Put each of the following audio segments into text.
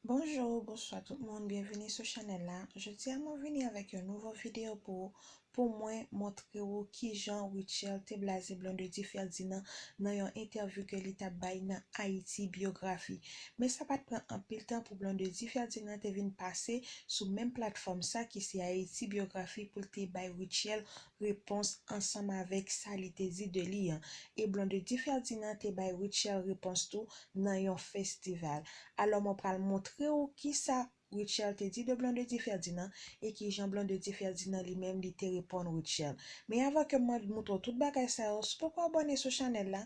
Bonjour bonswa tout moun byenvini sou chanèl la jodia mwen vini avèk yon nouvo video pou ou pou mwen montre ou kijan Rutshelle te blaze Blondedy Ferdinand nan yon entèvyou ke li tap bay nan Haïti Biographie men sa pat pran anpil tan pou Blondedy Ferdinand te vin pase sou menm platfòm sa ki se Haïti Biographie poul te bay Rutshelle repons ansanm avèk sa li te di de li an, e Blondedy Ferdinand te bay Rutshelle repons tou nan yon festival. Alò mwen pral montre ou kisa Rutshelle te di de Blondedy Ferdinand e kijan Blondedy Ferdinand li menm li te reponn Rutshelle. Men avan ke mwen moutre w tout bagay sa yo, si w poko abòne sou chanèl la,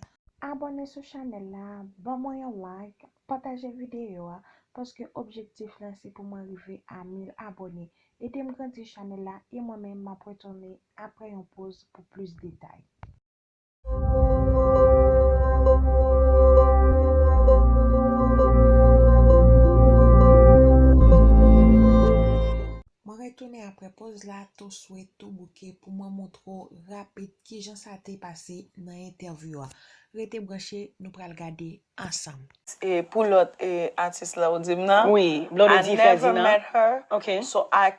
abòne sou chanèl la, ban mwen yon like, pataje videyo a, paske objektif lan se pou mwen rive a 1000 abòne, Edem grandi chanèl la e mwen menm map retounen aprè yon poz pou plis detay. Mwen retounen aprè poz la tou swe tou bouke pou mwen moutre w rapid kijan sa te pase nan entèvyou a. Rete branche nou pral gade ansanm. E pou lòt atis la ou di m nan? Wi, Blondedy Ferdinand. I never met her. Ok. So I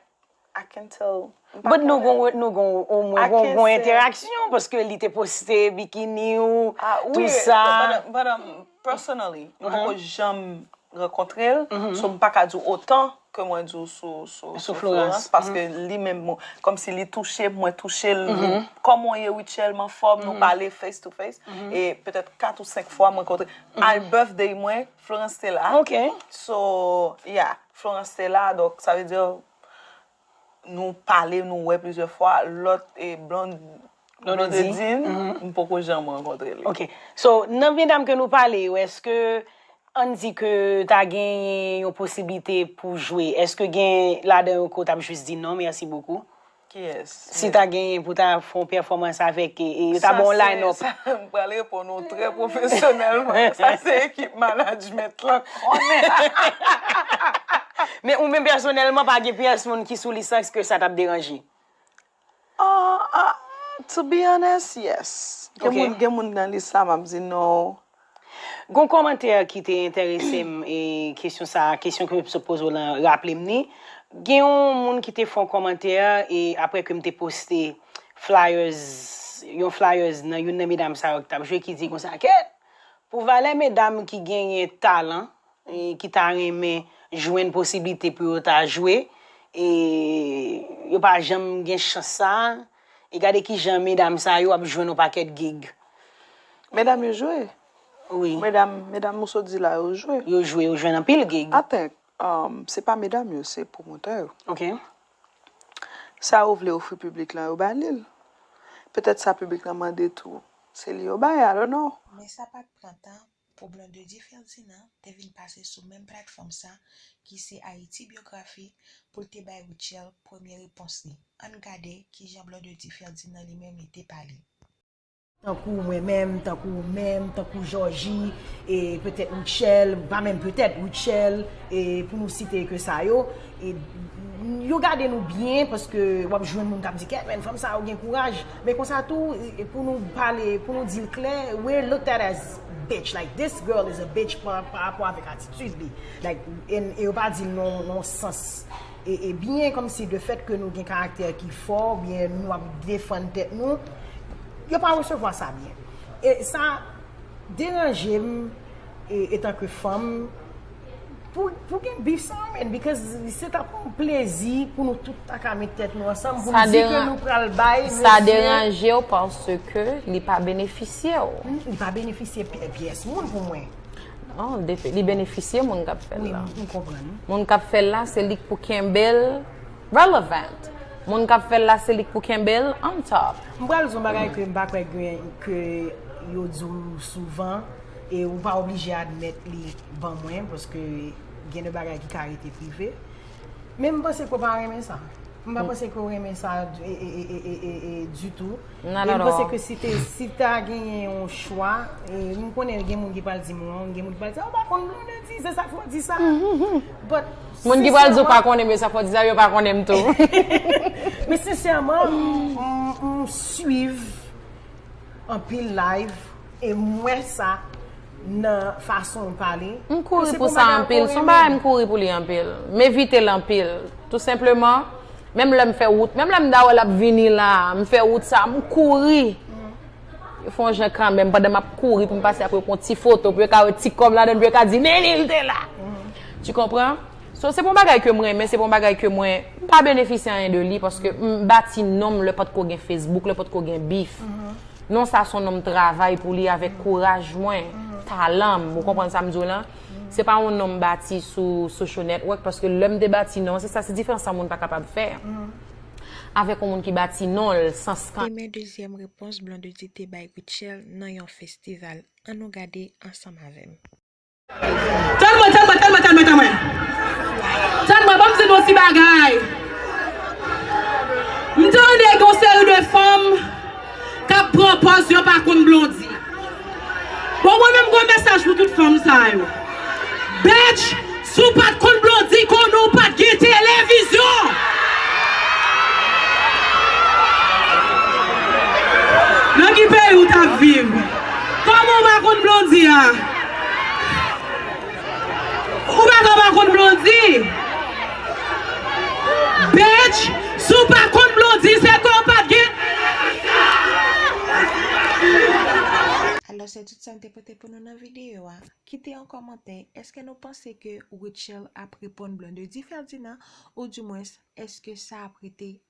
can tell. But nou gon nou gon ou mwen gon gon enteraksyon paske li te poste bikini ou tou sa. But personally, m poko janm rankontre l. So m pa ka di w otan ke mwen di w sou sou Florans paske li menm kòm si li touche m mwen touche l kòman w ye Rutshelle m anfòm nou pale face to face e petèt 4 ou 5 fwa mwen kontre a birthday mwen Florans te la so ya Florans te la donk sa vle di nou pale nou wè plizyè fwa lòt e Blonde Nonodedin, m poko janm rankontre li. Ok. So, nan medam ke nou pale yo, eske ann di ke ta genyen yon posiblite pou jwe, eske gen ladan yo ke w t ap jis di non mèsi bokou? Kiyès? Si ta genyen pou ta fè yon pèfòmans avèk e yo ta ba w yon line up. Sa se, m pral reponn ou trè pwofesyonèlman, sa se ekip manajmèt lan konnen. Men ou menm pèsonèlman pa gen pyès moun ki sou lisans ke sa t ap deranje? Ahh to be honest yes gen moun nan lis la map di no. Gon kòmantè ki te enterese m e kesyon sa a kesyon ke m sot poze w lan raple m ni. Gen yon moun ki te fè yon kòmantè e aprè ke m te poste flyers yon flyers nan youn nan medam sa yo ki t ap jwe ki di konsa kèt pou valè medam ki genyen talan ki ta renmen jwenn posiblite pou yo ta jwe e yo pa janm gen chans sa a e gade kijan medam sa yo ap jwenn yon pakèt gig. Medam yo jwe? Wi. Medam ou sot di la yo jwe? Yo jwe, yo jwenn anpil gig. I think se pa medam yo, se pwomotè yo. Ok. Sa yo vle ofri piblik lan yo ba li l. Petèt sa piblik lan mande tou, se li yo bay, I don't know. Men sa pa t pran tan Problèm de Di Ferdinand te vin pase sou menm platfòm sa ki se Haïti Biographie pou l te bay Rutshelle premye repons li. Ann gade kijan Blon de Di Ferdinand li menm li te pale. Tankou mwen menm, tankou ou menm, tankou Jòji, e petèt Rutshelle, pa menm petèt, Rutshelle, e pou nou site ke sa yo, yo gade nou byen paske w ap jwenn moun k ap di kèt menn fanm sa yo gen kouraj. Men konsa tou pou nou pale pou nou dil klè we're looked at as bitch like this girl is a bitch pa rapò avèk atitid li like en e yo pa dil nan yon sans e byen kòmsi de fèt ke nou gen karaktè ki fò ou byen nou ap defann tèt nou yo pa resevwa sa byen e sa deranjem etanke fanm. Pou gen bif sa men because se tap yon plezi pou nou tout ta ka met tèt nou ansanm pou nou di ke nou pral bay. Sa deranje w parce ke li pa benefisye w. Li pa benefisye pyès moun pou mwen. Non, li benefisye moun kap fè l la. Oui, m konprann. Moun kap fè l la se li k pou kenbe l relevant. Moun kap fè l la se li k pou kenbe l on top. M pral di w yon bagay ke m pa kwè ke yo di w souvan. E ou pa oblije admèt li ban mwen paske gen de bagay ki ka rete prive. Men m panse ke w pa renmen sa. M pa panse ke w renmen sa ditou. Nan nan nan. E m panse ke si te, si ta genyen yon chwa, e m konnen gen moun ki pral di m wrong, gen moun ki pral di, oh m pa konn Blondedy, se sa k fè w di sa. But sensèman. Moun ki pral di w pa konnen m, se sa k fè w di sa, yo pa konnen m tou. Men sensèman, m swiv. anpil live e m wè sa nan fason w pale. M kouri pou sa anpil. Son bagay m kouri pou li anpil. M evite l anpil. Tou senpleman, menm lè m fè wout, menm lè m da wè l ap vini la, m fè wout sa, m kouri. Yo fè yon jan kanmenm pandan m ap kouri pou m pase ap yo pran ti foto pou yo ka wè ti kò m ladan l pou yo ka di Menil te la. Tu konpran? So se pa yon bagay ke m renmen, se pa yon bagay ke mwen pa benefisye anyen de li paske m bati non m lè pa t ko gen Facebook, lè pa t ko gen bif. Non sa son non m travay pou li avèk kouraj mwen, talan m, ou konprann sa m di w lan. Se pa yon non m bati sou social network paske lè m te bati non, se sa se diferans sa moun pa kapab fè avèk yon moun ki bati non l san skan. Demen dezyèm repons Blondedy te bay Rutshelle nan yon festival. An nou gade ansanm avè m. Tann mwen, tann mwen, tann mwen, tann mwen, tann mwen. Tann mwen, banm di nou ti bagay. M tande gen yon seri de fanm k ap pran pòz yo pa konn Blondy. Bon mwen menm gwo mesaj pou tout fanm sa yo. Bitch, si w pa t konn Blondy, konnen w pa t gen televizyon. Nan ki peyi w t ap viv? Kòman w pa konn Blondy a? Ou pa ka pa konn Blondie. Bitch, si w pa konn Blondie se ke w pat gen. Alò se tout sa m te pote pou nou nan videyo a. Kite yon kòmantè, eske nou panse ke Rutshelle ap reponn Blondedy Ferdinand ou di mwens eske sa ap rete